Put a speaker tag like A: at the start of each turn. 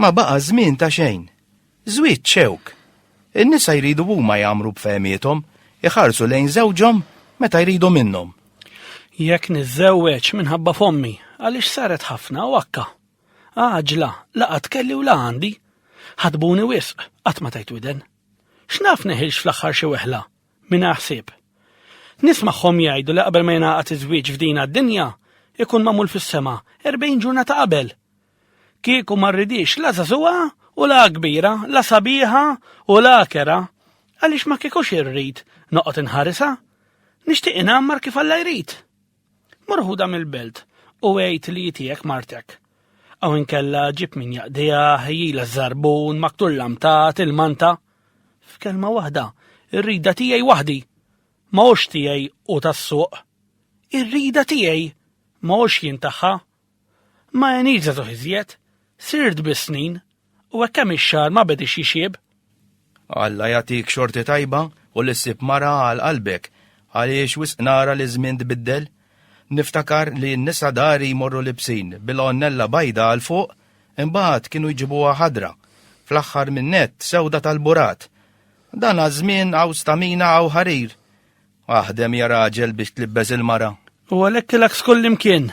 A: Ma baqa' żmien ta' xejn. Żwieġ xewk. In-nisa jridu huma jagħmru b'fehmiethom, iħarsu lejn żewġhom meta jridu minnhom. Jekk
B: niżżewweġ minħabba f'ommi, għaliex saret ħafna u akka. Għaġla, la qatt kelli u la għandi. Ħadbuni wisq, qatt ma tajt widen. X'naf neħilx fl-aħħar xi weħla, mingħajr ħsieb. Nismagħhom jgħidu li qabel ma jingħaqad iż-żwieġ f'din għad-dinja, ikun magħmul fis-sema, erbgħin ġurnata qabel. Kieku ma rridix la żagħżugħa u la kbira, la sabiħa u la kera, għaliex ma kiekux irrid noqgħod inħarisa. Nixtieq inammar kif Alla jrid. Mur ħudha mill-belt u għid li hi tiegħek martek. Aw inkella ġib min jaqdiha, ħejjila ż-żarbun, maktul lamtat, il-manta. F'kelma waħda, ir-rida tiegħi waħdi. Ma hux tiegħi u tas-suq. Ir-rida tiegħi ma hux jien tagħha Ma għenitx żagħżugħ iżjed, sirt biss snin, u hekk kemm ix-xagħar ma bediex jixjieb. Alla
A: jagħtik xorti tajba u li ssib mara għal qalbek, għaliex wisq nara li ż-żmien tbiddel. Niftakar li n-nisa dari jmorru libsin bil-għonnella bajda għal fuq, imbagħad kienu jġibuha ħadra, fl-aħħar min-nett sewda tal-burat. Dan għaż-żmien hawn stamina hawn ħarir. Aħdem
B: ja
A: raġel
B: biex tlibbeż
A: il-mara. U
B: għalhekk ilek f'kullimkien,